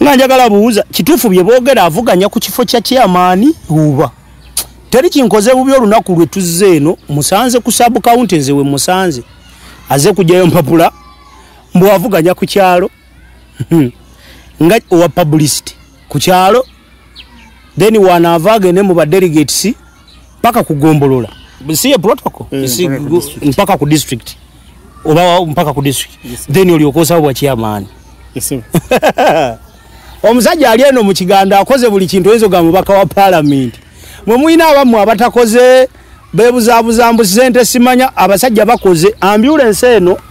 nga njagala buuza kituufu bye boogera avuganya ku kifo kya chairman uba teri kinkoze bubi olunaku lwe tuzze eno musanze ku sub county nze we musanze aze kujjayo mpapula mbu avuganya ku kyalo hmm. nga owa publicity ku kyalo then wanaava agende mu badelegates mpaka ku gombolola si ye protocol mm, si mpaka ku district oba mpaka ku district yes, then olyoka osaba bwa chairman yes, omusajja ali eno mu kigandu akoze buli kintu oyinza ogamba mubaka wa palamenti mwe mulina abamu abatakoze bebuzabuza mbu sente simanya abasajja bakoze ambulensi eno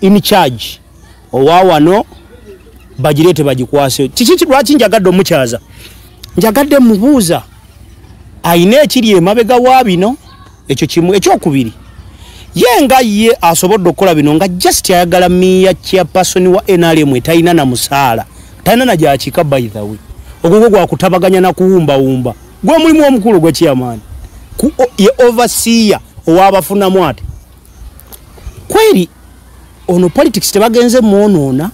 in charge owa wano bagireete bagikwase kiki lwaki njagadde omukyaza njagadde mubuuza ayina ekiri emabega wa bino ekyo kimu ekyokubiri ye nga ye asobodde okukola bino nga just ayagala miya chairperson wa nrm etalina na musaala talina na gyakika by the way ogwogwo gwakutabaganya na kuwumbawumba gwe mulimu omukulu gwekiyamaani ye overseer owabafunamu ati kweri ono politics tebagenze mwonoona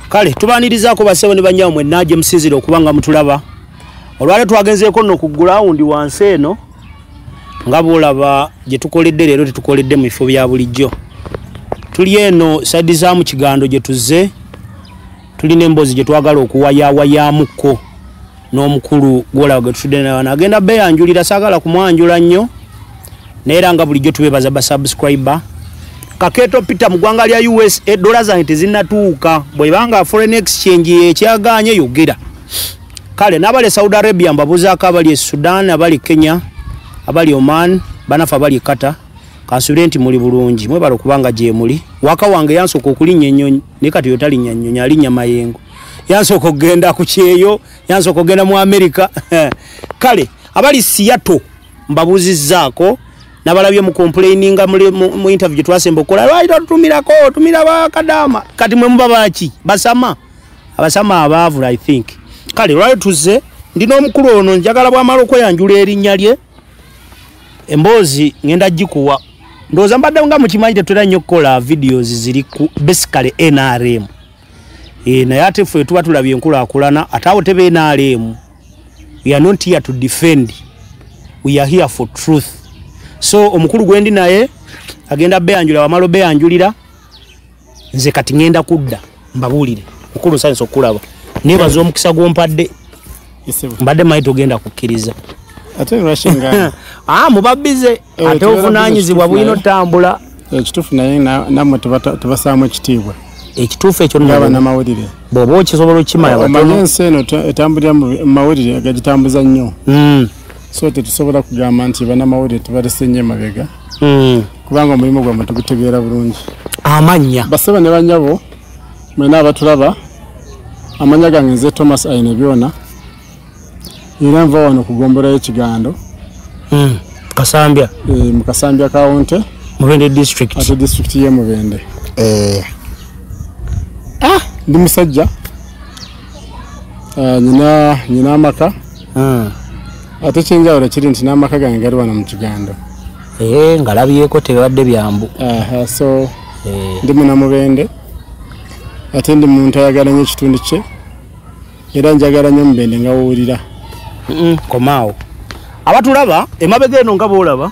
kale tubanirizaako basebo ne banyawo mwenna gye musinzire okuba nga mutulaba olwale twagenzeeko nno ku gulawundi wansi eno nga bwolaba gye tukoledde leero tetukoledde mu bifo bya bulijjo tuli eno saidi za mu kigando gye tuzze tulina emboozi gye twagala okuwayawayamukko n'omukulu gwolaba gwe tutudde naye wano agenda beyanjulira saagala kumwanjula nnyo naye era nga bulijjo tubebaza basubscriber kaketo peter mu ggwanga lya us edola zange tezinatuuka bwebanga foreign exchange yekyaganye yogera kale nabali saudi arabia mbabuzaako abali e sudan abali e kenya abali oman banafe abali e kata kansubire nti muli bulungi mwebala okubanga gyemuli waka wange yansooka okulinnya enyonyi naye kati yo talinya nnyonyi alinnya mayengo yansooka okugenda ku kyeyo yansooka okugenda mu amerika kale abali siyato mbabuuzizzaako nabalabye mu complaininga mu interview gye twasemba okukola lwali totumirako otumira bakadaama kati mwe muba baki basama abasama abaavula i think kale lwali tuzze ndi n'omukulu ono njagala bwamala okweyanjula erinnya lye emboozi ngenda gikuwa ndowooza mbadde nga mukimanyi tetulina nnyo okukola videos ziri ku basically nrm e, naye ate ffe tuba tulabye enkulakulana ate awo tebe nrm we are not here to defend we are here for truth so omukulu gwendi naye agenda beyanjulira wamala obeyanjulira nze kati ngenda kudda mbabuulire mukulu nsanyisa okukulaba nebaza omukisa gwompadde mbadde manyi togenda kukkiriza ah, mubabize eh, ate obuvunanyizibwa bulina otambula ekituufu eh, naye namwe tubasaamu ekitiibwa ekituufu ekyo nabanamawulire bwoba okisobola okukimala ensi eno etambulira mu mawulire gagitambuza nnyo hmm. so tetusobola kugamba nti banamawulire tubalese nnyo emabega hmm. kubanga omulimu gwamwe tugutegeera bulungi amannya basaba ne banyabo mwena abatulaba amanya gange nze thomas aine byona era nva wano kugombolayo ekigando hmm, kasambya eh, mukasambya kawunte mubende district ate district ye mubende eh. ah, ndi musajja Ah, nyina nyina amaka hmm. ate kyenjawulo kiri nti n'amaka gange gali wano mu kigando eh, ngalabyeko tebibadde byambu so eh. ndi munamubende ate ndi muntu ayagala nyo ekitundu kye era njagala nyo omubende ngawuwulira komaawo abatulaba emabega eno nga boolaba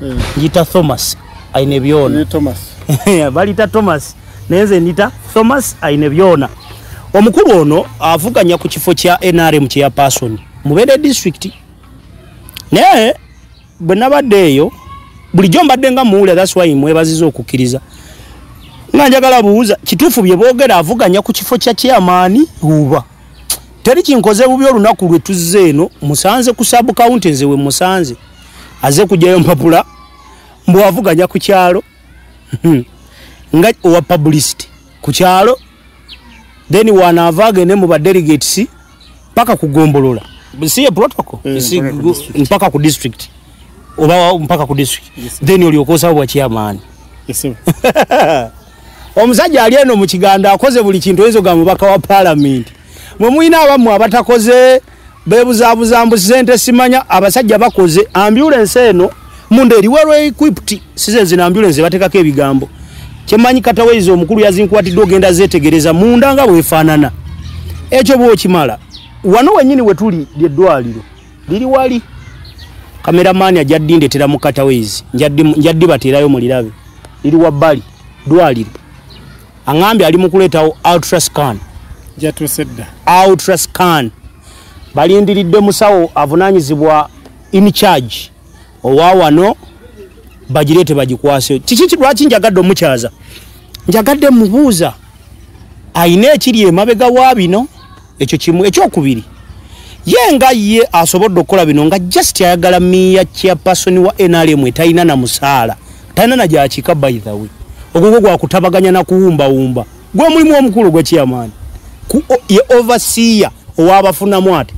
hmm. njita thomas aine byona balita thomas naye nze njita thomas aine byona omukulu ono avuganya ku kifo kya nrm kyeya person mubere district naye bwe nabadde eyo bulijjo mbadde nga muwulira thats wy mwebaziza okukkiriza nga njagala buuza kituufu bye boogera avuganya ku kifo kya chairmani uba teri kinkoze bubi olunaku lwe tuzze eno musanze ku sub county nze we musanze aze kujayo mpapula mbu avuganya ku kyalo hmm. nga owa publicity ku kyalo then wanaava agende mu ba delegates mpaka kugombolola siye protocol mm, si, mpaka ku district oba mpaka ku district yes, then olyokosawo bwa chairman yes, omusajja ali eno mu kiganndo akoze buli kintu oyinza ogamba mubaka wa palamenti mwe mulina abamu abatakoze bebuzabuza mbu sente simanya abasajja bakoze ambulance eno munda eri well equipped size nzina ambulance batekako ebigambo kyemanyi kataweiza omukulu yazinkwatidde ogenda zetegereza munda nga bwefaanana ekyo bwokimala wano wenyini wetuli lyeddwaliro liri wali kameramaani ajja ddindetera mu kataweizi njaddibateerayo mulirabe liri wabbali dwaliro aŋambye ali mu kuleetawo ultrascan jatusedda ultrascan balindiridde musawo avunaanyizibwa in charge owa wano bagireete bagikwase kiki lwaki njagadde omukyaza njagadde mubuuza ayina ekiri emabega wa bino ekyo kimu ekyokubiri ye nga ye asobodde okukola bino nga just ayagala miya chairperson wa nrm etalina na musaala talina na gyakika by the way ogwogwo gwakutabaganya na kuwumbawumba gwe mulimu omukulu gwe chairman ye overseer owabafunamu ate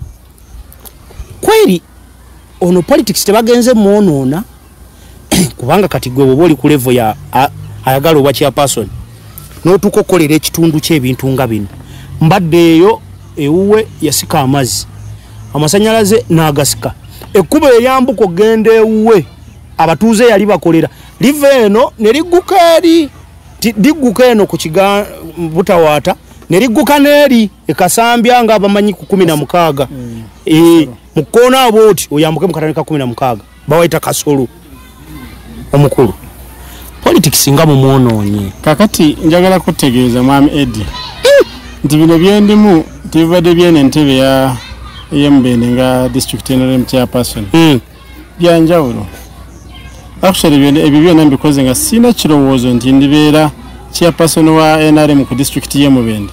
kweri ono politics tebagenze mwonoona kubanga kati gwe bwoba oli ku levo ya ayagala obwa chairperson notuuka okukolera ekitundu kyebintu nga bino mbadde eyo ewuwe yasika amazzi amasanyalaze nagasika ekkubo eryambuka okugenda ewuwe abatuuze yali bakolera liva eno nerigguka eri ligguka eno ku kiga butawaata nerigguka neeri ekasambya nga abamanyi ku kumi na mukaaga mm. eh, mu kkoona abo oti oyambuke mu katane ka kumi na mukaaga bawayita kasulu omukulu politics nga mumwonoonye kakati njagala kutegeeza mwami edi eh! nti bino byendimu tebibadde byene entebe ya eyemubende nga district nrm chairperson hmm. byanjawulo actually ebyo byona mbikoze nga sirina kirowoozo nti ndibeera chairperson wa nrm ku district yemubende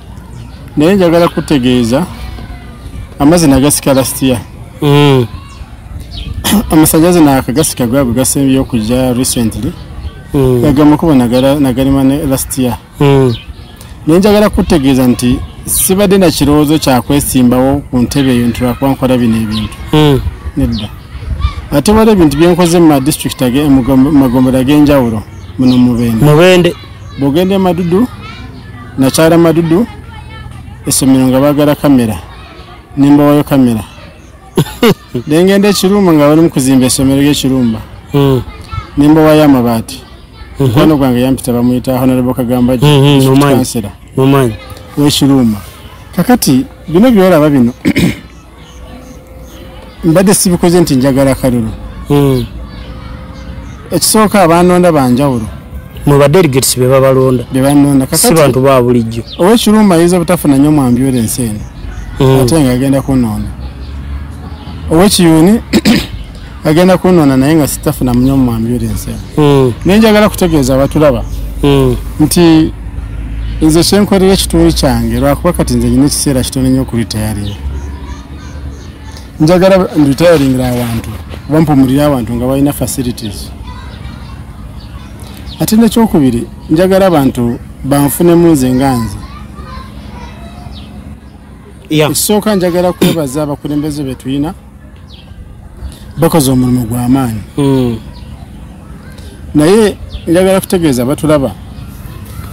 naye njagala kutegeeza amazina gasika lastiya mm. amasanyalaze nakagasika gwabwe gasembye okuja recently mm. agamba kuba nagalima ne lastiya mm. naye njagala kutegeeza nti sibadde na kirowoozo kyakwesimbawo ku ntebe eyo nti lwakuba nkola bino ebintu nedda ate waliwo ebintu byenkoze mu madistrict magombero ag'enjawulo muno mubende bwogenda emadudu nakyala madudu essomero nga baagala kamera ne mbawayo kamera ne ngenda ekirumba nga balimu kuzimba essomero ly'ekirumba hmm. ne mbawayo amabaati hmm. mukwano gwange yampita bamuyita honorable kagamba kansera w'ekirumba kakati bino byolaba bino mbadde sibikoze nti njagala kalulu hmm. ekisooka abanonda banjawulo mubadelegates bebabalonda bebanonda si bantu ba bulijjo owekirumba ayinza obutafuna nyo mwambyula ensi eno hmm. ate nga agenda kunonda owekiyuni agenda kunona naye nga sitafuna munyo mu ambulance mm. naye njagala kutegeeza abatulaba mm. nti nze kyenkolera ekitundu kyange lwakuba kati nze nyina ekiseera kitono nyo okulitayaringa njagala nditayaringira abantu oba mpumulire abantu nga balina facilities ate nekyokubiri njagala abantu banfunemu nze nga nze ekisooka njagala kwebaza abakulembeze betulina bakoze omulimu gwamaanyi hmm. naye njagala kutegeeza batulaba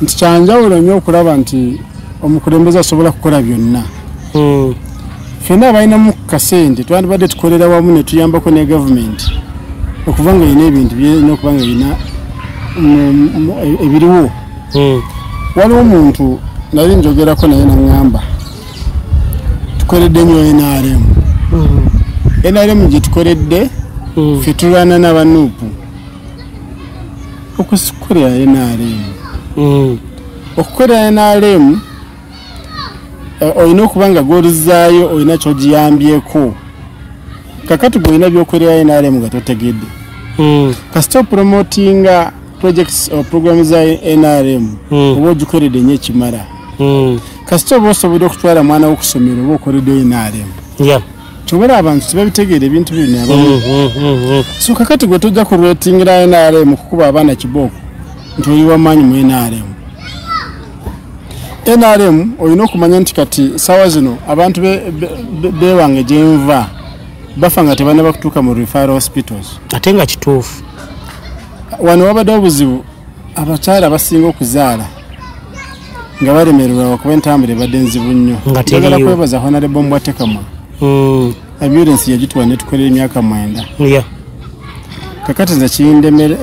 nti kyanjawulo nyo okulaba nti omukulembeze asobola kukola byonna hmm. fena abalinamu kasente twandibadde tukolera wamu netuyambako ne gavumenti okuba nga erina ebintu byerina okuba nga erina ebiriwo hmm. waliwo omuntu nali njogerako naye naŋamba tukoledde nyo nrm mm-hmm. nrm gyetukoledde mm-hmm. fe tulwana nabanupu okusikolera nrm mm-hmm. okukolera nrm eh, olina okuba nga goluzaayo olina kyogiyambyeko kakati gweolina byokolera nrm nga totegedde kasita opromotinga projects or program za nrm hmm. oba ogikoledde enyo ekimala hmm. kasita oba osobodde okutwala mwana wokusomero oba okoledde nrm kyobala abantu tebabitegeera ebintu bino hmm, so kakati gwe tojja kurwetingira nrm kukuba abaana kibooko nti oli wamaanyi mu nrm nrm olina okumanya nti kati saawa zino abantu bewange gyenva bafa nga tebana bakutuuka mu referal hospitals ate nga kituufu wano wabadde obuzibu abakyala abasinga okuzaala nga balemererwa wakuba entambula ebadde nzibu nnyo agala kwebaza honarebo mbwatekamwa hmm. ambulensi yagituwa netukolera emyaka mwenda kakati nze kindemere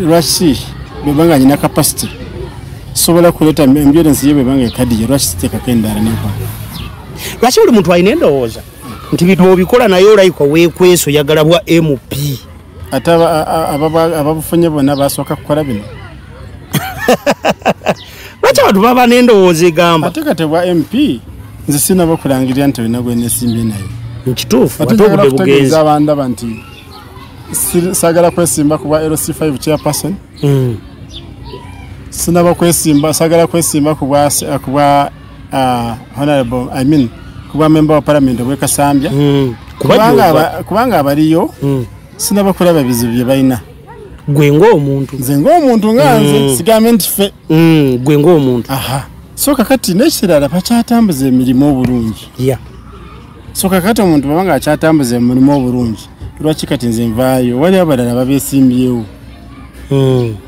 lwaki bwebanga nyina kapasite sobola kuleeta ambulensi ye bwebanga ekadiye lwaki siteekako endala nekwa lwaki buli muntu alina endowooza nti bintu obikola naye olayika wekweso yagala bwa mp ate ababufunye bona basooka kukola bino lwaki abantu baba n'endowooza egamba ate kati bwa mp nze sinaba okulangirira nti olina gwenesimbye naye nkituufu ate obude bugenzi abandaba nti sagala kwesimba ku bwa lc5 chairperson hmm. sinaba kwesimba sagala kwesimba ku bwa Ah, honorable i mean kubwa member wa parliament obwe kasambya hmm. kubanga abaliyo hmm. sinaba kulaba bizibu bye balina gwe ngaomuntu nze ngaomuntu nganze hmm. sigambe nti fe gwe ngaomuntu aha so kakati nekirala bakyatambuza emirimu obulungi ya so kakati omuntu baba nga akyatambuza emirimu obulungi lwaki kati nze nvaayo wali abalala babesimbyewo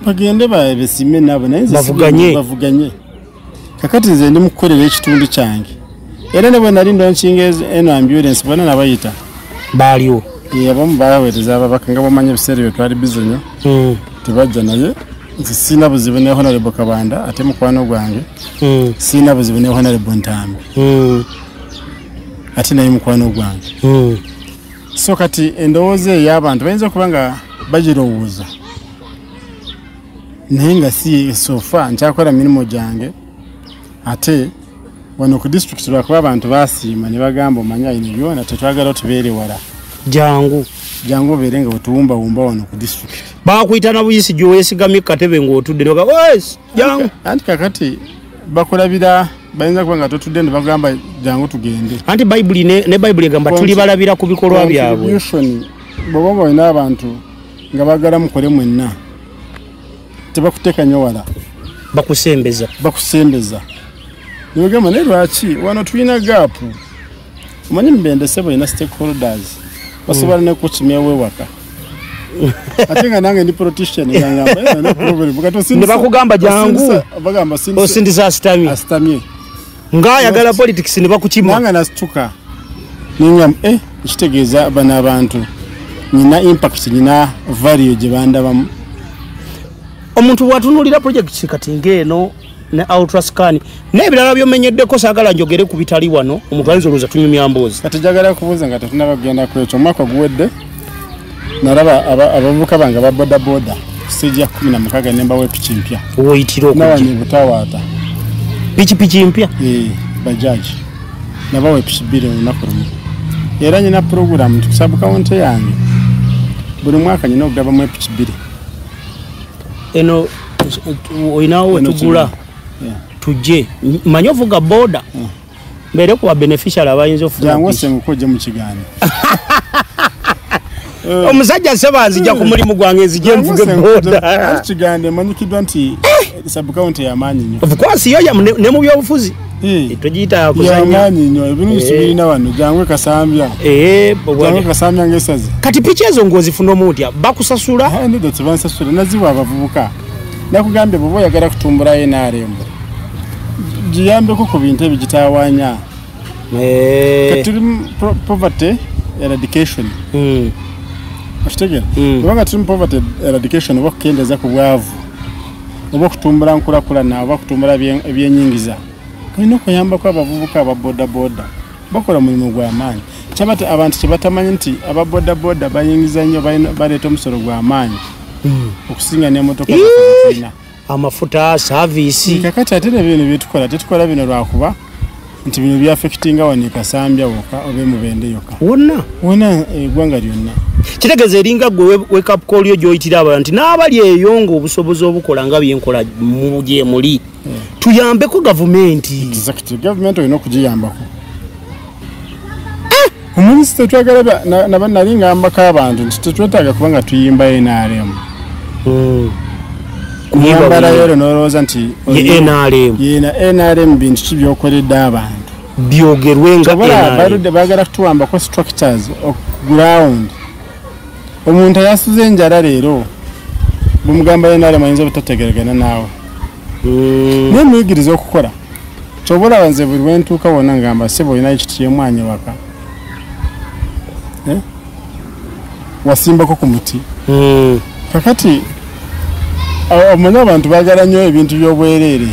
bagende babesimbe nabo naye bavuganye kakati nze ndi mukukolera ekitundu kyange era ne bwe nali ndonkinga eno ambulance bona nabayita baaliwo abamu baweereza ababaka nga bamanya ebiseera bye twali bizi nyo hmm. tebajja naye nze siina buzibu ne honarebo kabanda ate mukwano gwange hmm. siina buzibu ne honarebo ntambi hmm. ate naye mukwano gwange so kati endowooza eyo abantu bayinza okuba nga bagirowooza naye nga si sofa nkyakola mirimu gyange ate wano ku disitulikiti lwakuba abantu basiima ne bagamba omanya ino byona tetwagala otubeere wala jangu jangu obeere nga otuwumbawumba wano ku disitulikiti bakuyita na buyisi gyewesigamye kukatebe ngaotudde jangu anti kakati bakulabira bayinza kuba nga totudde ne bagamba jangu tugende anti bayibuli ne bayibuli egamba tuli balabira ku bikolwa byabwe bwoba nga olina abantu nga bagala mukole mwenna tebakutekanyo wala bakusembeza bakusembeza nogamba naye lwaki wano tulina gaapu omanyi mubendese balina stakeholders basobola mm. nekukimyawo ewaka ate nga nange ndi politician nebakugamba jangu osindisa asitamye asitamye nga ayagala politics ne bakukima nanga nasituka ninga eh kitegeeza bana abantu nina impact nina value gye bandabamu omuntu bwatunulira project kati ng'eno ne ultrascan n'ebirala byomenyeddeko saagala njogere ku bitali wano omuntu ayinza olowooza tunyumya mboozi kati jagala kubuuza nga tetunaba kugenda ku ekyo omwaka guwedde nalaba abavubuka bange aba bodaboda sijja kumi na mukaga nemba wepiki mpya woyitira oknawani butawaata pikipiki mpya eh, bajaji naba wepiki bbiri olunaku lumu era nyina puroguramu tikusabu kawunti yange buli mwaka nyina okugabamu epiki bbiri eno olinawo wetugula tujje manyi ovuga boda hmm. mbere kuba beneficial abayinza ofunaoje mukigaano eh. omusajja seba nzija ku mulimu gwange nzije nvuge bodakigambo emanyikiddwa nti eh. sabukawunti yamaanyi nyo ofcourse yo ne mu byobufuzi eh. togiyita kuzanyamaanyi nyo ebinu bisibirina wano jangu kasambya jangu kasambya ngaesazi kati piki ezo ngaozifuna omutya bakusasula ah, naziwa abavubuka nakugambye bwoba oyagala kutumbulayo enarembo giyambeko ku bintu ebyo gitawanya eh. katuli poverty eradication hmm. okitegera hmm. kubanga tuli mu poverty eradication oba okukendeeza ku bwavu oba okutumbula nkulakulana oba okutumbula ebyenyingiza olina okuyambako abavubuka aba bodaboda bakola mulimu gwamaanyi kyabati abantu kyebatamanyi nti aba bodaboda bayingiza nnyo baleeta omusolo gwamaanyi hmm. okusinga nemotoka ina amafuta saviisi kakati ate ne bino byetukola tetukola bino lwakuba nti bino byafekitinga wano ekasambya woka oba emubende yoka wonna wona egwanga eh, lyonna kitegeeza eringa gwe wekapkolyo gyoyitira abala nti n'abali eyo nga obusobozi obukola nga byenkola gyemuli eh. tuyambeko gavumenti gavumenti olina okugiyambako eh, omanyi sitetwagala naba nali ngambako abantu nti tetwetaaga kuba nga tuyimba nrm hmm. kuyambala yero nolowooza nti nrm bintu ki byokoledde abantu byogerwe nga baludde bagala kutuwambako structures ground omuntu ayasuze enjala leero bumugamba nrm ayinza obutategeregana naawe naye muyigiriza okukola kyoba olaba nze buli wentuuka wona ngamba sebo olinayo kiti kyemwanyi waka eh? wasimbako ku muti hmm. kakati omanyi abantu bagala nnyo ebintu byobwereere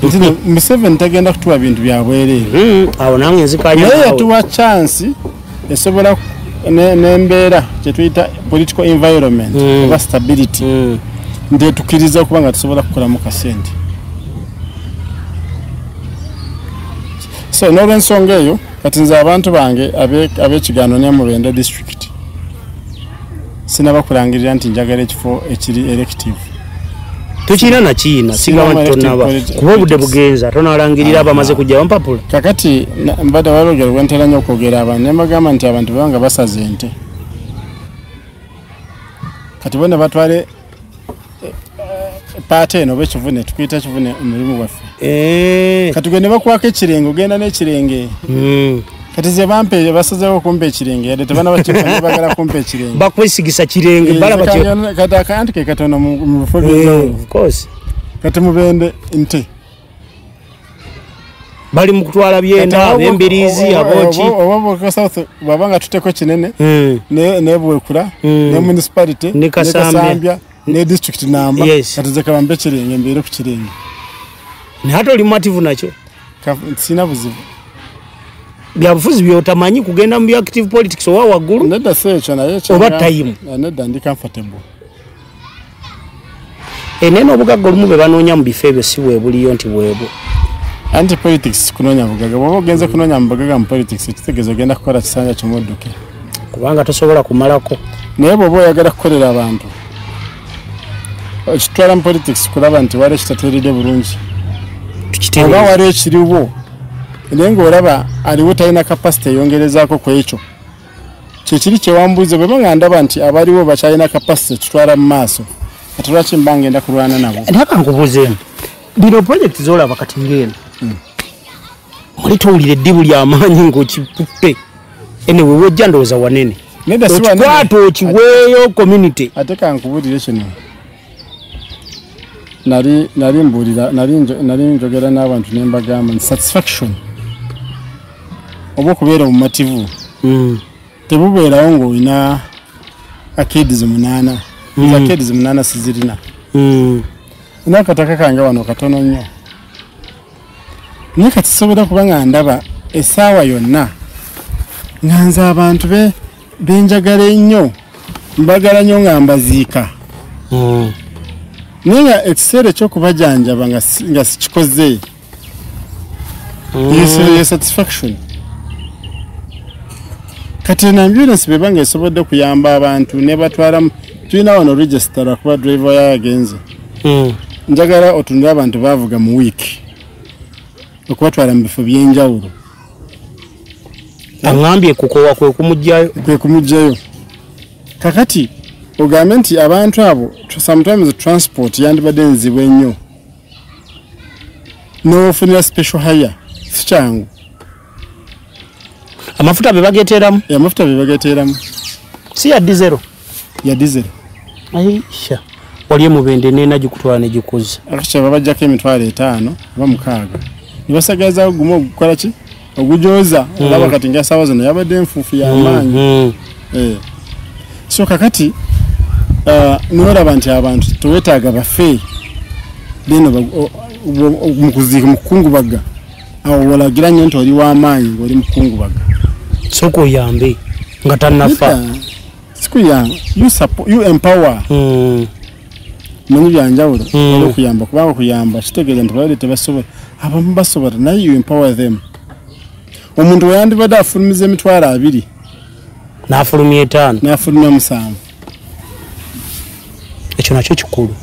nti museveni tagenda kutuwa bintu byabwereere hmm. awo nange nzikanyanaye yatuwa chansi esobola nembeera kyetuyita political environment mm. oba stability mm. ndetukiriza okuba nga tusobola kukolamu kasente so nolwensonga eyo kati nze abantu bange abekigaano nemubende district sinaba kulangirira nti njagala ekifo ekiri elective tukirina nakiina sigaba nti tonaba kuba obudde bugenza tonalangirira abamaze kujja bampapula kakati mbadde walogera wentera nyo okwogera abantu nembagamba nti abantu bebanga basaze ente kati bona batwale paate eno oba ekivune tukuyita ekivune omulimu gwaffe eh. kati gwe ne bakwako ekirenge ogenda n'ekirenge hmm. kati ze bampe basazeewo okumpa ekirenge yadde tebana bagala kumpa ekirenge bakwesigisa kirenge eh, kati akayantike katono mu bifo byeyawulu eh, kati mubende nte bali mu kutwala byenda abembiriizi aboki baba nga tuteko kinene hmm. nebwekula hmm. ne municipality ne kasambya ne district namba katuze kabambe kirenge mbeere ku kirenge naye ate oli mumativu nakyo sina buzibu byabufuzi byotamanyi kugenda mu active politics owa waggulu oba tayimu eh, nedda ndi comfortable ene n'obugagga olumu bwe banoonya mu bifo ebyo si bwebuliyo nti bwebwo anti politics kunoonya bugaga bwoba ogenze kunoonya mu bugaga mu politics ekitegeeza ogenda kukola kisanja kimudduke kubanga tosobola kumalako naye bwoba oyagala kukolera abantu okitwala mu politics kulaba nti waliwo ekitateeredde bulungi oba waliwo ekiriwo naye ngaolaba aliwo talina kapasite eyongerezaako ku ekyo kyekiri kyewambuuza bweba nga ndaba nti abaliwo bakyalina kapasite ekitwala mu maaso ate lwaki mba ngenda kulwana nabo naka nkubuuzeemu bino purojekiti zolaba kati ngeeno hmm. oli towulira eddibu lyamaanyi ngaokikutte ene wewojja ndowooza wanene okikwata okiweeyo community ate kankubulire kino nali nali mbuulira nali njogera n'abantu ne mbagamba nti satisfaction oba okubeera obumativu hmm. tebubeerawo ng'olina akeedi ze munaana hmm. akeedi ze munaana sizirina hmm. ina akataka kange wano katono nnyo naye kati sobola kuba nga ndaba essaawa yonna nga nze abantu be benjagala ennyo mbagala nnyo nga mbaziika hmm. naye nga ekiseera ekyokubajanjaba nga sikikoze hmm. yo satisfaction kati eno ambulansi beba nga esobodde okuyamba abantu nebatwalamu tulina wano regisitara kuba drive yayo agenze hmm. njagala otunule abantu bavuga mu wiiki okubatwala mu bifo byenjawulo aŋambye kukowa kwekumugjayo kwekumugjayo kakati ogambe nti abantu abo sometimes transport yandibadde nzibu ennyo nofunira special hire sikyangu amafuta bebageteramu amafuta bebageteramu si yaddi zero ya diesel aisha waliyo mubende nena gikutwala ne gikuza aisha babajja ke mitwala etano ba mukaga nibasagaza gumo okukola ki ogujoza mm. olaba kati nga sawa zino yabadde nfufu ya mm, maanyi mm. eh so kakati uh, eh, nora bantu abantu tuwetaga bafe deno mu kuziika mu kukungubaga awo wolagira nnyo nti oli w'amaanyi ng'oli mukungubaga soka oyambe nga tanafa sikuyamba you empower hmm. manyi byanjawulo hmm. oli okuyamba kubanga okuyamba kitegeeza nti balade tebasobola abamu basobola naye you empower them omuntu weyandibadde afulumiza emitwalo abiri n'afulumya etaano n'afulumya omusanvu ekyo nakyo kikulu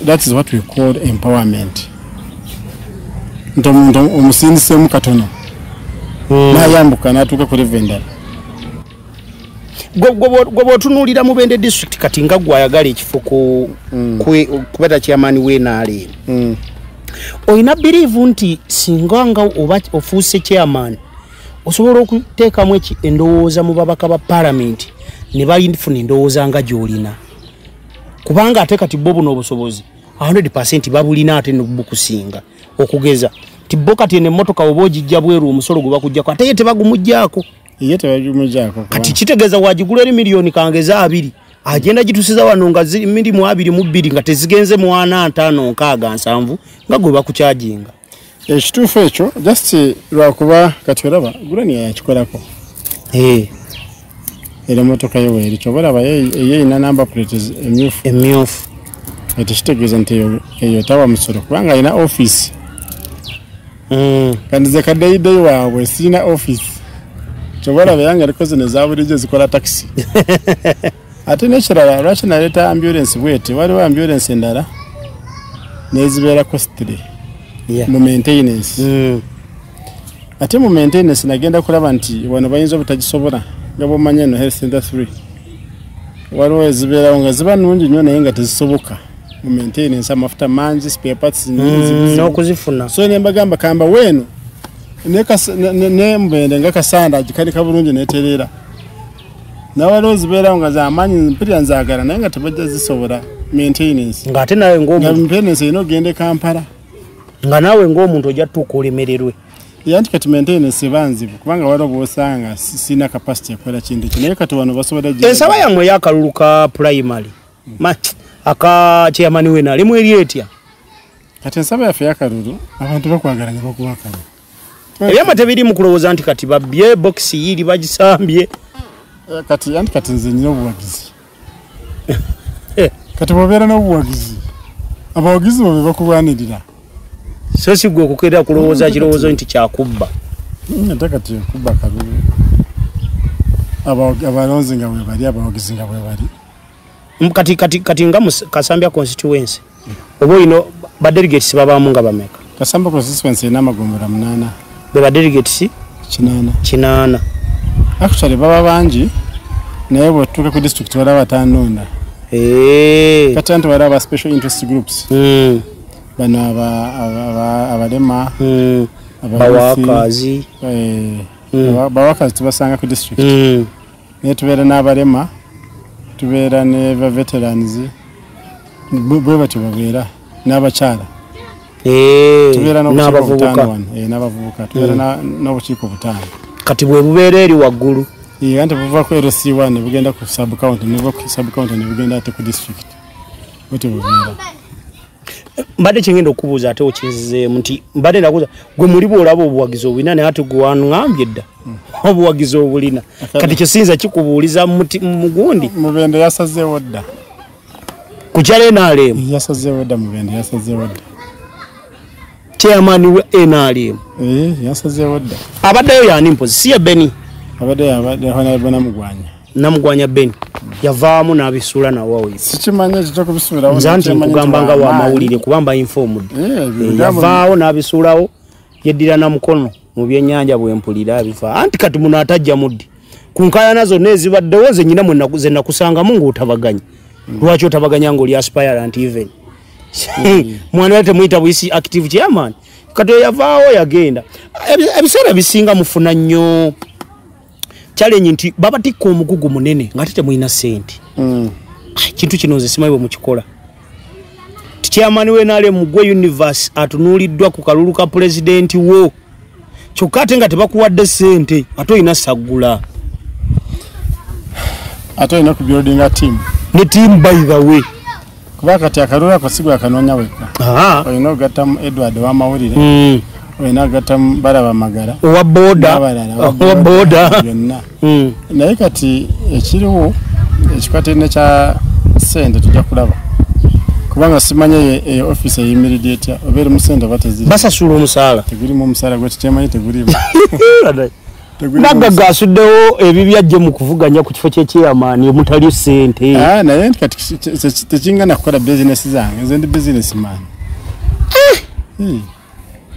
that is what we call empowerment nti omuntu omusindiseemu katono hmm. nayambuka natuuka ku leve endala gwe bwotunuulira mu bende district kati nga gwe ayagala ekifo hmm. kubera kyamaani wenaale hmm. olina biriivu nti singa nga oba ofuuse kyamaani osobola okuteekamu eki endowooza mu babaka ba palamenti ne bafuna endowooza nga gy'olina kubanga ate kati bo buno obusobozi 100 percent babulina ate nobukusinga okugeza nti bo kati eno emmotoka oba ogijja bweru omusolo gwe bakujjako ate ye tebagumujjaako ye tebagumujjaako kati kitegeeza wagigula eri miliyoni kangeza abiri agenda gitusiza wano nga mirimu abiri mu bbiri nga tezigenze mwana ntaano nkaaga nsanvu nga gwe bakukyajinga ekituufu ekyo just lwakuba kati olaba gulani yakikolako eh. era emotoka ye weeri kyoba olaba yeeyina number plate emyufu emyufu ekyo kitegeeza nti eyo tawa musolo kubanga alina office mm. kandi ze kadeyidei waabwe sirina office kyoba olaba yanga eriko zino ezabulijjo zikola takisi ate nekirala lwaki naleeta ambulensi bweti waliwo ambulensi endala nezibeera costly mu maintenance mm. ate mu maintenance nagenda kulaba nti wano bayinza obutagisobola nga bwomanyi eno health center 3 waliwo ezibeerawo nga ziba nungi nnyo naye nga tezisoboka mu maintenance amafuta mangi spare parts mm, n'okuzifuna so ne mbagamba kamba weeno ne mubende nga kasanda agikanika bulungi netereera nawaliwo zibeerawo nga zamaanyi mpirira nzagala naye nga tebajja zisobola maintenance ngaate nawe ngmaintenance erina okugenda e kampala nga naawe ngaomuntu ojja tutuuka olemererwe yanti kati maintenance eba nzibu kubanga waliwo bwosanga sirina capacity ekola kintu ekyo naye kati wano basobola ensaba yammwe eyakalulu ka primary hmm. aka chairman wenalimu eri etya kati ensaba yaffe yakalulu abantu bakwagala ne bakubakalulu ebyama tebiri mu kulowooza nti kati babye bokisi yiiri bagisambye eh, kati anti kati nze nyina obuwagizi eh. kati bobeera n'obuwagizi abawagizi bo be bakulwanirira so si gwe okukeera kulowooza kirowoozo nti kyakubba hmm, ate kati okubba kalulu abalonzi nga bwebali abawagizi nga bwebali kati kati kati nga kasambya constituency oba olina ba delegates babaamu nga bameka kasamba constituency erina amagombolola munaana be ba delegates kinaana kinaana actually baba bangi naye bwetutuuka ku district wala batanonda eh. kati anti wala aba special interest groups hmm. bano abalema hmm. bawakazi eh. hmm. bawakazi tubasanga ku district naye tubeera n'abalema tubeera ne ba veterans bwe batyo babeera n'abakyala eh, tubeera n'abavubuka eh, n'abavubuka tubeera hmm. n'obukiiko butaano kati bwe bubeera eri waggulu eh, anti buva ku lc one ne bugenda ku subcounty ne buva ku subcounty ne bugenda ate ku district bwetyo bubeera mbadde kyengenda okubuuza ate okinzizeemu nti mbadde nakuza gwe muli bwolaba obuwagizi obulina naye ati gwe wangambye dda obuwagizi obulina kati kyesinza kikubuuliza mugundi mubende yasazeewo dda kukyala enaalemu yasazeewo dda mubende yasazeewo dda chairman wa nrm eh, abaddeyo yani mpozi siye beni namugwanya beni yavaamu n'abisuula nawoyonza nti nkugamba nga wamawulire kuba mba infomud eh, eh, yavaawo n'abisuulawo yeddira na mukono mu byenyanja bwe mpulira bifa anti kati muno atajja muddi ku nkayana zonna ezibaddewo ze nyina ze nakusangamu ng'otabaganya mm. lwaki otabaganya ng'oli aspirant even mm. mwana yali temuyita buyisi active chairman kati oyo yavaawo yagenda ebiseera bisinga mufuna nnyo challenge nti babatikka omugugu munene nga ate temulina sente mm. kintu kino nze simanyi bwe mukikola tikyamani wenaale mugwe universe atunuuliddwa ku kalulu ka pulezidenti wo kyokka ate nga tebakuwadde sente ate olina saggula ate olina ku buildinga tiamu ne tiamu by the way kuba kati akalulu ako si gwakanoonya wekka olina okugattamu edward wamawulire hmm. olina okugattamu balaba magala owa bodabalalaowaboda byonna hmm. naye kati ekiriwo ekikwatirine kya sente tujja kulaba kubanga simanya eyo office eyimiridde etya oba eri musente oba teziri basasula omusaala tegurimu omusaala gwekikyemanyi tegurimu naggaga asuddewo ebibyo ajje mu kuvuganya ku kifo kyekyeyamaani omutali ssente ah, naye nti kati tekingana kukola bizinesi zange nze ndi bizinesi maani eh! hmm.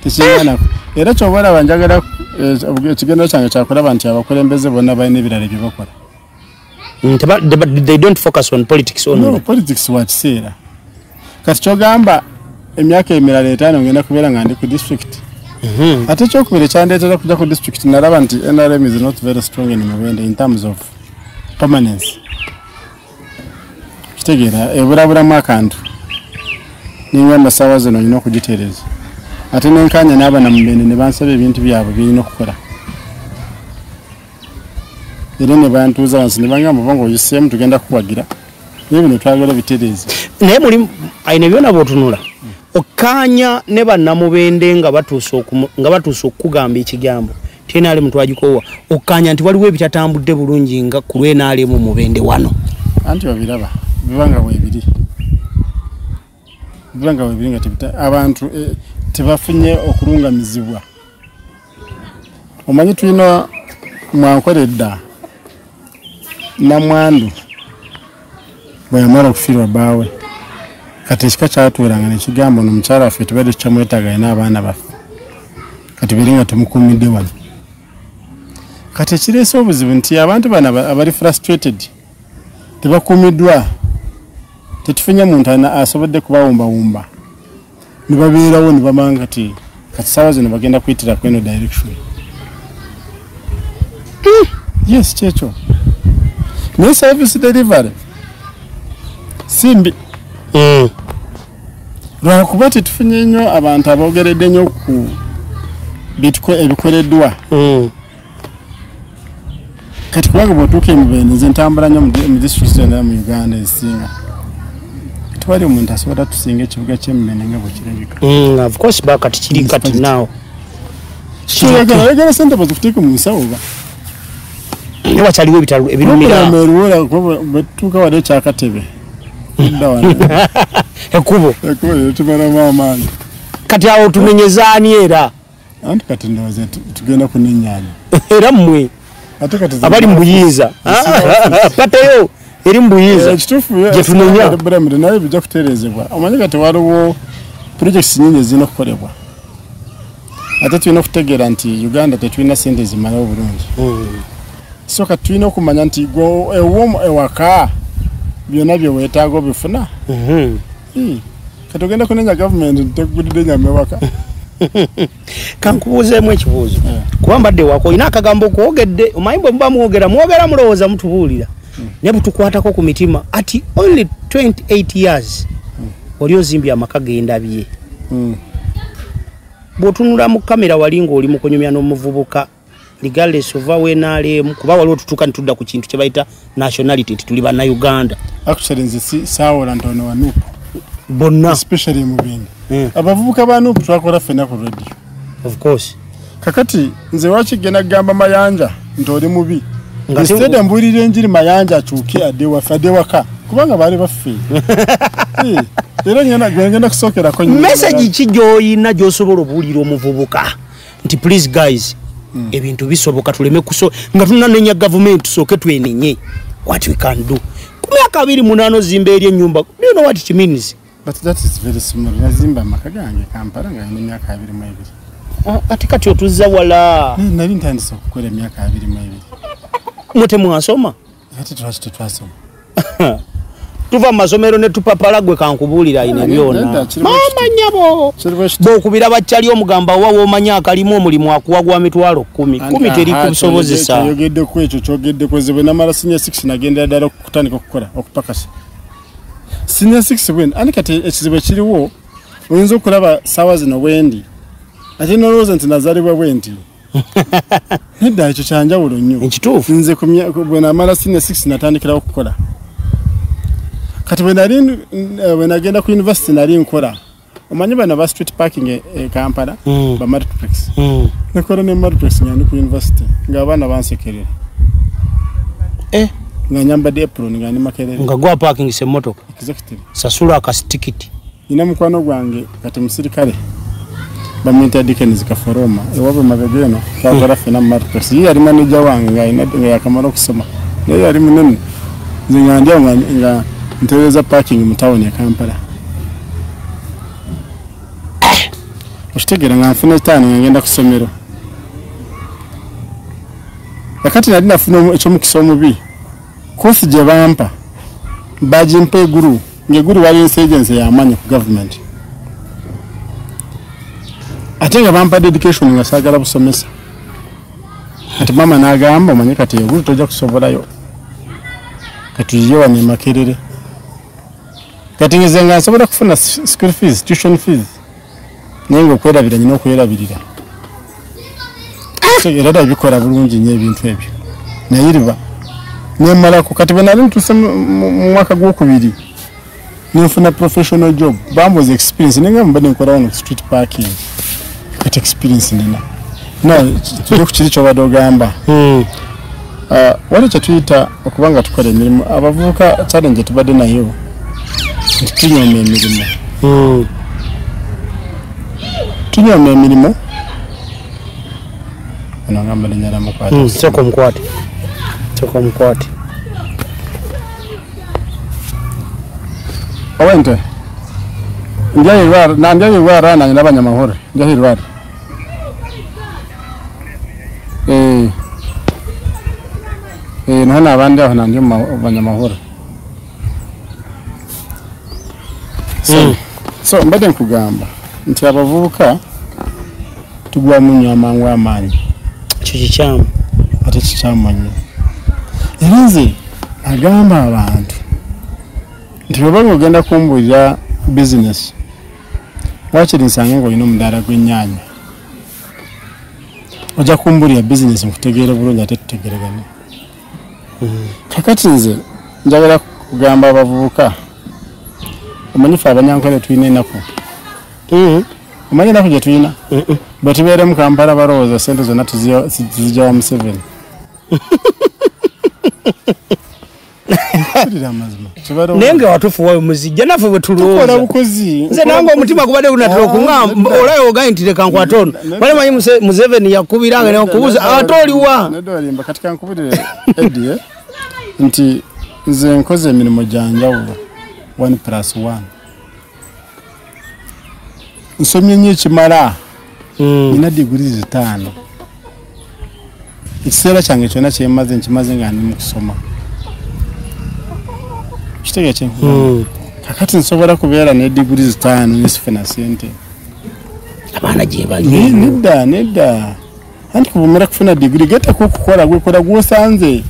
tekingana era kyoba olaba njagala eh, ekigendero kyange kyakulaba nti abakulembeze bonna balina ebirala bye bakola they don't focus on politics only no, politics wa kiseera kati kyogamba emyaka emirala etaano ngenda kubeera nga ndi ku district mhm. ate ekyokubiri ekyandeetera kujja ku district nalaba nti nrm is not very strong in mubende in terms of permanence kitegeera eburaburamu akantu nengamba saawa zino olina okugitereeza ate nenkanya n'abana mubende ne bansaba ebintu byabwe byerina okukola era ne bantuuza wansi ne bangamba oba nga oyiseemu tugenda kukuwagira naye bino twagala bitereeza naye muli aine byona bwotunula okkaanya ne bannamubende nga batuuse okukugamba ekigambo tnr mutwagikoowa okkaanya nti waliwo ebitatambudde bulungi nga ku lwenr mu mubende wano anti obiraba bibanga bwebiri ebbanga webiri nga tebita abantu eh, tebafunye okulungamizibwa omanyi tulina mwankola edda namwandu bweyamala okufiirwa baawe kati ekika kyatuweranga nekigamba ono omukyala waffe tubadde tukyamwetaaga alina abaana baffe kati bere nga temukumidde wano kati ekireese obuzibu nti abantu bano abali frustrated tebakuumiddwa tetufunye muntu alina asobodde kubawumbawumba ne babeerawo ne bamanga ti kati saawa zino bagenda kuyitira ku eno direction hmm, yes kyekyo naye service delivery si mbi hmm. lwakuba tetufunye nnyo abantu aboogeredde nnyo ku ebikoleddwa hmm. kati kubanga bwotuuka emubende nze ntambula nyo mu district zonna mu uganda esinga tewali omuntu asobola tusinga ekibuga kyemubende nga bwekirabika mm, of course ba kati kiri kati nawo kyoyagala oyagala sente bazikuteeke mu nsawo ba naye wakyaliwo ebitalo ebirumiraeruwola bwetuuka wade ekyakatebe ekubo ekubo tumalamu amaanyi kati awo tumenyezani era anti kati ndowooza tugenda kunenyanya era mmwe abali mu buyinza pateyo eri mu buyinza eh, kitufuyetunonya naye bijja kutereezebwa omanyi kati waliwo purojekiti nyingi ezirina okukolebwa ate tulina okutegeera nti uganda tetulina sente zimala obulungi hmm. so kati tulina okumanya nti ewomu ewaka byonna bye weetaaga obifuna hmm. Hmm. kati ogenda kunenya gavumenti tegudidde nyama ewaka kankubuuzeemu ekibuuzo eh. kuba mbadde wako olina akagambo kwogedde omanyi bwe muba mwogera mwogera mulowooza mutubuulira hmm. naye butukwatako ku mitima ati only 28 years hmm. oli ozimbye amaka gendabye bw'otunula mu kamera wali ng'oli mu kunyumya n'omuvubuka regardless of where nalemu kuba waliwo tutuka nitudda ku kintu kyebayita nationality nti tuli banna uganda actually nze si sawola ntono wa nup bonna especially mu bindi mm. abavubuka ba nup twakola fena ku radio of course kakati nze waki genda gamba mayanja nti oli mubi instead mbulira enjiri mayanja akyuke adde waffe adde waka kubanga baali baffe eh, era ngenda kusookerako meseji ki gyoyina gyosobola obuwulira omuvubuka nti please guys mm. ebintu bisoboka tuleme kuso nga tunanenya government tusoke twenenye what we can do kumyaka abiri munano zimba eri enyumba do you know what it means but that is very small nazimba amaka gange kampala nga nina emyaka abiri mu ebiri ah, ate kati otuzza wala nali ntandise okukola emyaka abiri mu ebiri mwe temwasoma ate twaki tetwasoma tuva mu masomero ne tupapala gwe kankubuulira ine byona maama nyabo bwokubira baccali omugamba wa womanya akalimu omulimu akuwa gwa mitwalo kumi kumi teri kusobozesa yogeddeko ekyo kyogeddeko nze bwe namala sinya six nagendera ddala okutandika okukola okupakasa sinya six bwen ani kati ekizibu ekiriwo oyinza okulaba saawa zino bwendi ate nolowooza nti nazalibwa bwenti nedda ekyo kyanjawulo nnyo ekituufu nze bwe namala senior six natandikirawo okukola kati bwe nali eh, bwe nagenda ku university nali nkola omanyi bano ba street parking e, e kampala mm. ba martrex mm. nekola ne martrex nga ndi ku university nga abaana bansekerera eh. nga nyambadde apron nga ndi makerere nga gwa parking se motoka exactly sasula akasitikiti nina mukwano gwange kati musirikale bamuyita dikens kaforoma ewabwe mabega eno twagala hmm. fena mumartos ye yali maneja wange nga yakamala okusoma naye yali munene nze nga ndya nga ntereza parking mu tawuni e kampala okitegeera nga nfuna etaano nga ngenda kusomero kakati nali nafuna ekyomukisa omubi kosi gye bampa bagimpa eguru ngeguli wali insurgency yamanyi ku government ate nga bampa dedication nga sagala busomesa ati mama nagamba omanye kati egulu toja kusobolayo katuyiyewa nemakerere kati ngize nga nsobola kufuna school fees tuition fees naye ngaokwerabira nyina okwerabirira era da bikola bulungi nyo ebintu ebyo naye riba nemalako kati bwenali ntuse mu mwaka gwokubiri nenfuna professional job bamboza experience naye nga mubadde nkolawo no street parking kati experience nina no tuge ku kiri kyobadde ogamba hmm. uh, wali kyetuyita okuba nga tukola emirimu abavubuka challenge tubadde nayo nti tunyooma emirimu hmm. tunyooma emirimu onagamba linyala mukwatesoko hmm, mukwate soko mukwate owente ndyayirwara nandyayirwara nanye nabanyamahoro ndyahirwara Eh. Eh, naho ni abandi aho nandi mu ma- banyamahoro so, so mbade nkugamba nti abavubuka tugwa mu nyo amangu amaanyi ekyo kikyamu ate kikyamanyi era nze agamba abantu nti bwebanga ogenda kumbuulira bizinesi wakiri nsanga ngaolina omudaala gw'ennyanya ojja kumbulira bizinesi nkutegeere bulungi ate tutegeregane hmm. kakati nze njagala kugamba abavubuka omanyi fe abanyankole tulina enaku hmm. omanyi enaku gye tulina hmm. bwetubeere mu kampala balowooza sente zonna tuzijawa museveni naye nga watufuwa muzijja naffe bwetulwoozanze nange omutima gubadde gunatera okuamba ah, olayo ogaye nti leka nkwata ono bale manyi museveni yakubira nga nekubuza ate oliwa eh? nti nze nkoze emirimu gyanjawulo 1 plus 1 nsomye nnyo ekimala mm. nina diguri zitaano ekiseera kyange kyonna kyemaze nkimaze nga ndi mukusoma kitega kye mm. kakati nsobola kubeera ne diguri zitaano nesifuna sente abaana gyebali nedda nedda anti kuvumira kufuna digiri getako okukola gwekola gwosanze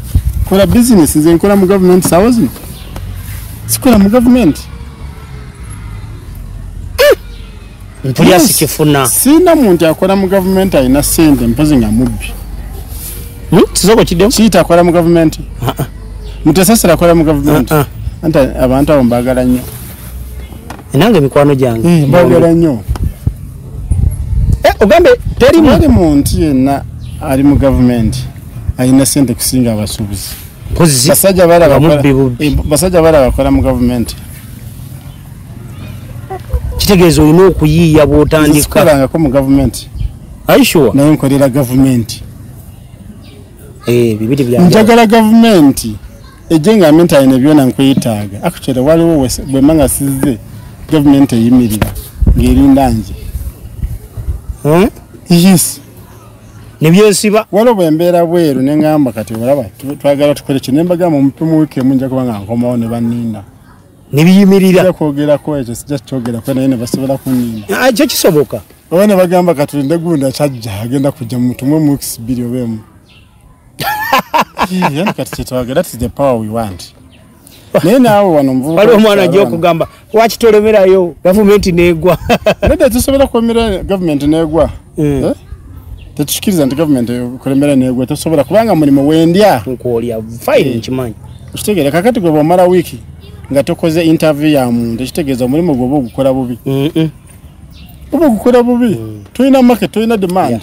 kola bizinesi nze nkola mu gavumenti sawa zino sikola mu gavumenti eh! mpulira sikifuna sina muntu akola mu gavumenti alina sente mpozi nga mubbi hmm? kisoko kidemu kiita akola mu gavumenti mutesasira akola mu gavumenti anti abantu abo mbagala nnyo nange mikwano gyange eh, mbagala nnyo eh, ogambe teri muntu yenna ali mu gavumenti alina sente kusinga abasuubuzi basajja bala bakola mu gavumenti kitegeeza olina okuyiiya bwotandikakolangako mu gavumenti aisure naye nkolera gavumenti eh, njagala gavumenti ejje nga mentale ne byona nkwetaaga akukyere waliwo bwemba nga sizze gavumenti eyimirira ng'erinda nje eh? yes nebyesiba waliwo bwembeera bweru ne ngamba kati olaba twagala tukole kino embagamba omupimu wiiki emu nja kuba nga nkomawo ne banninda nebiyimirira kwogerako ekyo sija kyogerako naye nebasobola kunninda ah, ekyo kisoboka oba ne bagamba katulinde gunda kyajja agenda kujja mu mutumwe mu wiiki bbiri oba emu yani kati kyetwagala ti the power we want naye naawe wano mvubuka waliwo omwana ajja okugamba lwaki tolemerayo gavumenti negwa nedda tusobola kulemera gavumenti negwa eh. eh? tetukikiriza nti gavumenti kulemera negwa tosobola kubanga mulimu wendya nkwolya fine eh. nkimanyi okitegeera kakati gwe bwomala wiiki nga tokoze interview ya muntu ekitegeeza omulimu gwoba ogukola bubi oba ogukola bubi mm. tulina market tulina demand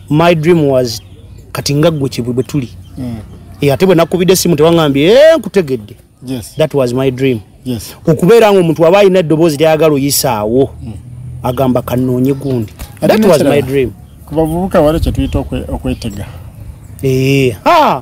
my dream was kati nga gwe kibwe bwe tuli mm. e, ate bwe nakubidde simu tewangambye e, eh, nkutegedde yes. that was my dream yes. okubeera nga omuntu aba alina eddoboozi lyayagala oyisaawo mm. agamba kanoonye gundi that was my dream ku bavubuka wali kyetuyita okwetega ee eh, ah!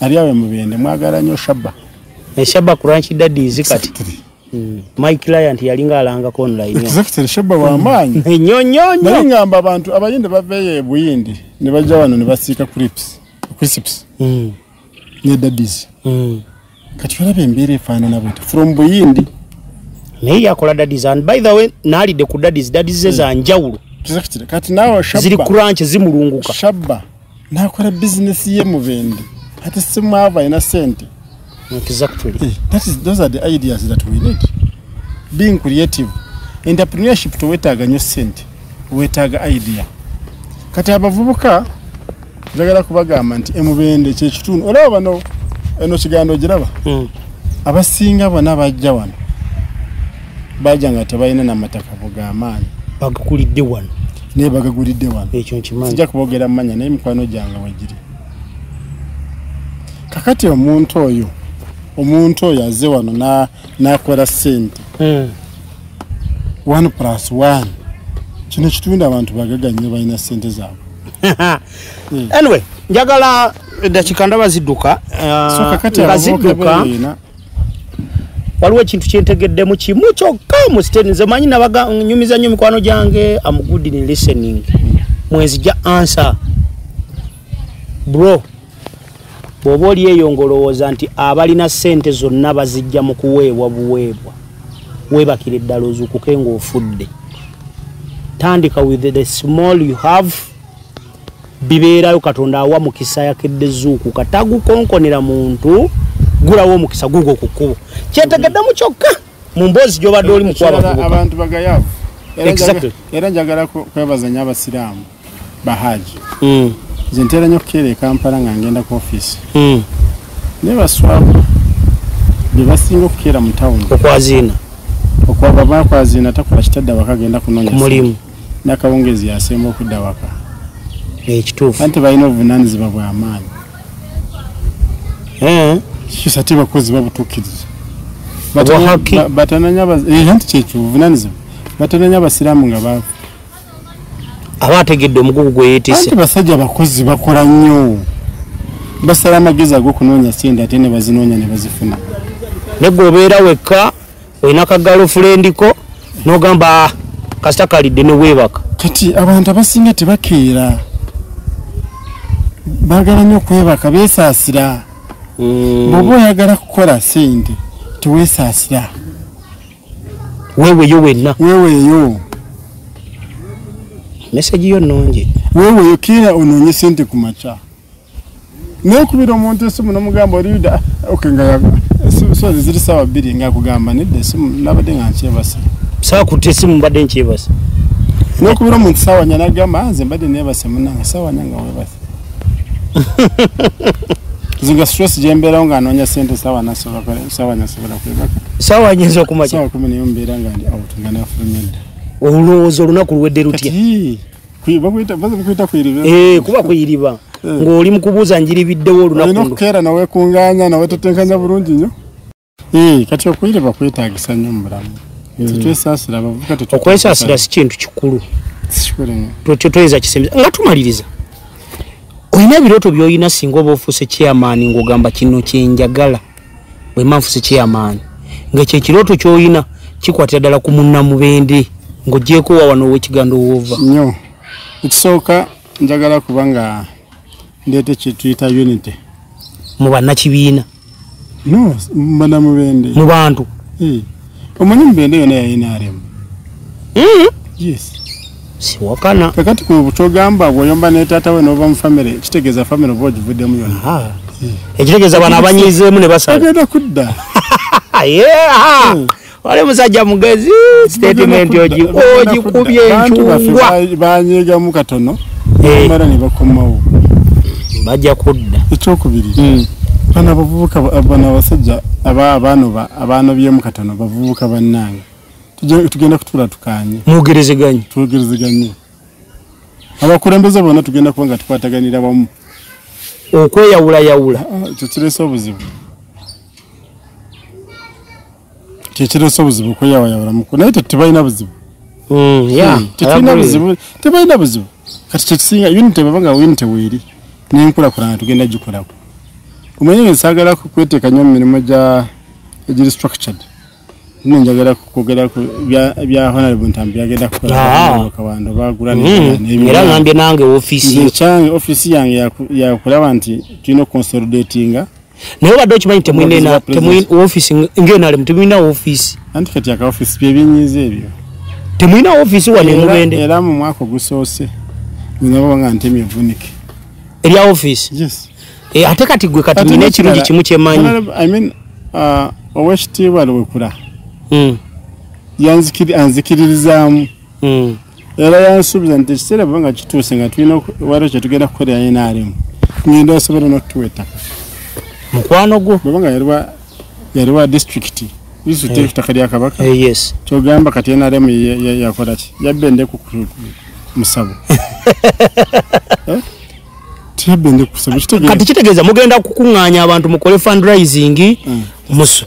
ali awe mubende mwagala nyo shaba e shaba kuranchi daddy zikati exactly. mm. my client yalinga alanga ko online exactly shaba wa manyi mm. nyo nyo nyo nali ngamba abantu abayinde baveye buyindi ne bajja wano ne basika crips crips mm. ne daddies mm. kati olabe mbere fana na bwete from buyindi naye yakola daddies and by the way nali de ku daddies daddies mm. za njawulo exactly kati nawo shaba zili kuranchi zimulunguka shaba nakora business ye mubende ati simwava ina sente exactly eh, that is those are the ideas that we need being creative entrepreneurship to wetaga nyo sente wetaga idea kati abavubuka njagala kubagamba nti emubende kyekitundu olaba bano eno kigambo ogiraba hmm. abasinga bona bajja wano bajja nga tebalina namataka bugamaanyi bagakulidde wano naye bagagulidde wano ekyo nkimanyi sijja kubogera mumanya naye mikwano gyange wegiri kakati omuntu oyo omuntu oyo aze wano nakola sente hmm. one plus one kino kitunda abantu bagaga nyo balina sente zaabwe hmm. anyway njagala edakika ndaba zidduka uh, nga zidduka waliwo ekintu kyentegeddemu kimu kyokka musiteni nze manyi nabaganyumiza nnyo mikwano gyange amugudini listening mwenzi ja ansa bro bwoba oli eyo ngaolowooza nti abalina sente zonna bazijja mu kuweebwa buweebwa webakira eddala ozukuke ngaofudde tandika with the small you have bibeerayo katonda awa mukisa yakedde zuukuka tagukonkonera muntu gulawo omukisa gugwo ku kkubo kyetegeddemu kyokka mu mboozi gyobadde oli mukwababantu bagayavu era njagala kwebaza nyo abasiraamu bahaji mm. nze ntera nyo okukeera ekampala nga ngenda ku ofiisi mm. naye baswabu bebasinga okukeera mu tawuni okwaziina okwaba bakwazina takola kitadde awaka agenda kunonyamulimu nakawungezi yasemba okudda waka ekituufu ante balina obuvunanyizibwa bwamaanyi eh? kisa ti bakozi babutukiriza batananya eh, nti kyekyo obuvunanyizibwa batananya abasiraamu nga baafu aba ategedde omugugu gweyetise basajja bakozi bakola nnyo basala amagezi agokunoonya sente ate nebazinoonya nebazifuna negwe obeera wekka olina ka girlfriend ko nogamba ah, kasita kalidde newebaka kati abantu abasinga tebakeera bagala nyo okwebaka besaasira mm. bwoba oyagala kukola sente tewesaasira weweyo wenna weweyo mesagi yo nungi weweyo kiira onoonye sente ku maca naye kubira omuntu esimu nomugamba oliuda ah, ok nga yaga sozi ziri sawa bbiri nga akugamba nedda esimu nabadde nga nkyebasa sakuta esimu mbadde nkyebasa nokubira omuntu sawanya nagamba ah, nze mbadde nebase munange sawanya nga webase zinga stress jemberawo nga anonya sente sawanya sobola kwebaka sawanya nza okumasawa kumi nayo mbeera nga ndi out nga nafulumyedda olowooza olunaku luwedde lutya Eh, kuba kuyiriba eh. ng'oli mu kubuuza njiribiddewo olunakuolina okukeera nawe kunganya nawe tutenkanya bulungi nyo eh, kati okuyiriba kwetagisa nyo mubulamu hmm. tetwesaasira abavuka okwesaasira si kintu kikulu toyinza kisembeza nga tumaliriza olina ebirooto byolina singa oba ofuuse chairman ng'ogamba kino kyenjagala wema nfuse chairman nga kye kiroto kyoyina kikwatira dala ku munna mubende ngo jeko wa wano we kigando wova nyo ikisoka njagala kubanga ndete kituyita unity mu banna kibiina no mbana mubende mu bantu hey. omanyi mubende yona ya nrm hmm? yes siwakana kakati kukyogamba bwoyomba netata we nova mufamire kitegeza famire oba ogivuddemu yona ah. hmm. ekitegeza bana abanyizeemu ne basaagenda kudda hmm. wali musajja mugezi statement ogikubye enkyungwabanyigamu katono eh. mara nebakomawo bajja kudda ekyokubiri bana bavubuka bana abasajja aba abanoba abaana byemu katono bavubuka bannange tugenda kutuula tukaanye mwogerezeganye twogerezeganye abakulembeze bonna tugenda kuba nga tukwataganira wamu okweyawulayawula ah, ekyo kirese obuzibu kyekirese obuzibu okweyawayawulamuku naye tebalina buzibu mm, hmm, tebalina buzibu tebalina buzibu kati kyekisinga unity baba nga unity weeri n'enkulakulana tugenda gikolako omanye nge nsagala kweteeka nnyo mu mirimu gya egiri structured nno njagala kwogera ku bya honarable ntambi byagenda kukolakawando ah. bagula hmm. era ngambye nange ofiisi ekyange ofiisi yange yakulaba nti tulina okukonsolidatinga naye obadde okimanyi temulina ofisi ngenalemu temulina ofisi anti kati aka ofisi byebinyiza ebyo temulina ofisi wano emubende era mu mwaka ogusoose nabanga nti emivunike erya ofisi eh, ate kati gwe kati nina ekirungi kimu kyemanyi uh, owekitiibwa lwekula hmm. anzikiririzaamu hmm. era yansuubiza nti ekiseera bwe nga kituuse nga tulina waliwo kye tugenda kukolera nrm ngenda osobola n'okutuwa ettaka mukwano gwo bweba nga yaliwa yaliwa disitulikiti disitulikiti eh. ettaka lya kabaka eh, kyogamba kati nrm yakola ki yabba endeku ku musabo eh? kati kitegeeza mugenda kukuŋŋaanya abantu mukole fundraising hmm. musu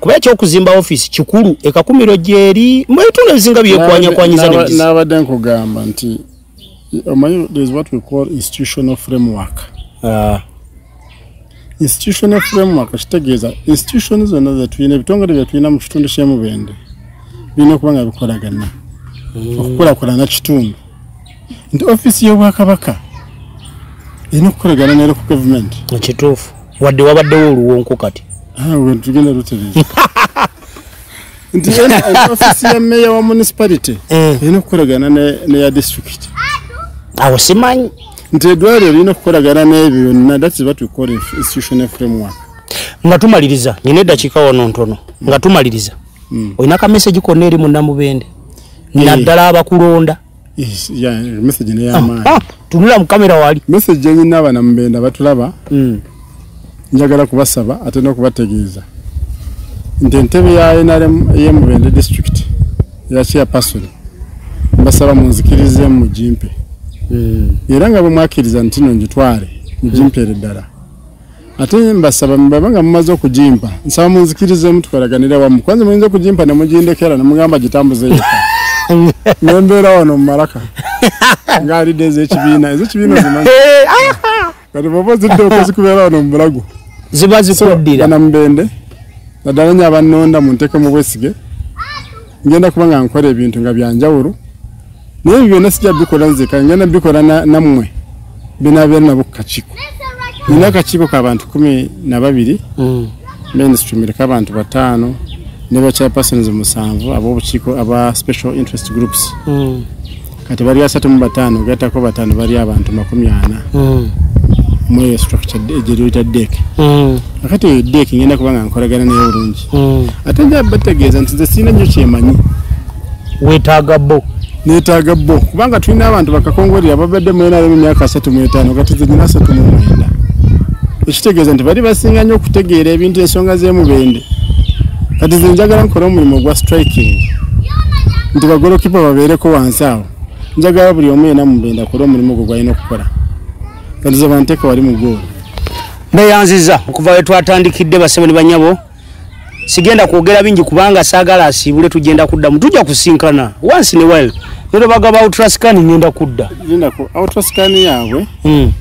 kuba ekyokuzimba ofiisi kikulu ekakumiro gyeri mu ebitundu ebisinga byekwanyakwanyisa n'abadde nkugamba nti omanyi there is what we call institutional framework ah. institutional framework kitegeeza institution zonna zetulina ebitongole byetulina mu kitundu kyemubende birina okuba nga bikolagana hmm. okukulakulana kitundu nti ofiisi y'obwakabaka erina okukolagana neero ku gavumenti ekituufu wadde wabaddewo oluwonko kati tugenda lutereeza nti ofisi ya meya wa municipality eh. erina okukolagana neya district awo simanyi nti edwaliro lirina okukolagana n'ebyo byonna that's what we call institutional framework nga tumaliriza nyina eddakiika wano ntono nga tumaliriza hmm. olina ka message konna eri munnamubende eh. naddala abakulonda message ne yamaani ah, ah, tunula mu kamera wali message yenyi naba na mbenda batulaba mm. njagala kubasaba ate no kubategeeza nti entebe ya nrm ye mubende district ya chair person mbasaba munzikirize mu jimpe mm. era nga bwe mwakiriza ntino njitwale mu jimpe mm. ddala ate mbasaba mbaba nga mumaze okugimpa nsaba munzikirizemu tukolaganire wamu kwanza muyinza okugimpa ne mugindekera ne mugamba gitambuze yeka ne mbeera wano mu malaka ng'alidde ez'ekibiina ez'ekibiina zimanyi eh, ah, ah. kati bwoba ozidde okuzikubeera wano mu bulago ziba zikuddira bana mubende naddala nyo abannonda mu nteeke mu bwesige ngenda kuba nga nkola ebintu nga byanjawulo naye ebyo byonna sijja bikola nzeka ngenda bikola nammwe benabeera nabo ku kakiiko nina akakiiko ka bantu kumi na babiri mm. mainstream eriko abantu bataano ne bachairpersons musanvu abobukiiko aba special interest groups mm. kati bali asatu mu bataano gattako bataano bali abantu makumi ana mm. mweyo structure egyeryoyita dek akati eyo dek ngenda kuba nga nkolagana naye bulungi hmm. ate nja bategeeza nti nze sirina nnyo kyemanyi wetaaga bo netaaga bo kubanga tulina abantu bakakongoli ababadde mwenaremu emyaka asatu mwetaano kati zenyina asatu mumwenda ekitegeeza nti bali basinga nnyo okutegeera ebintu ensonga z'emubende kati ze njagala nkola omulimu ogwa striking nti bagolokipa babeereko wansi awo njagala buli omu yena mubende akole omulimu ogwo gwalina okukola kati ze banteeka wali mu goolo mbeyanziza okuva we twatandikidde basebo ne banyabo sigenda kwogera bingi kubanga saagala asiibule tugenda kuddamu tujja kusinkana once in a while nero bagaba outrascan ngenda kudda outrascan yaabwe hmm.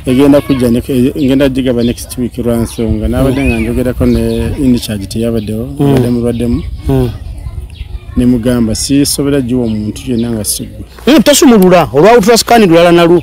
egenda kujja e, ngenda gigaba next week lwansonga nabadde nga njogerako ne incharge teyabaddewo hmm. abadde mubaddemu hmm. nemugamba sisobera giwa omuntu yenna nga sigwe tosumulula olwa outrascan lulala nalwo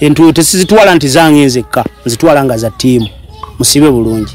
entuuyo tesizitwala nti zange nzekka nzitwala nga za ttiimu musibe bulungi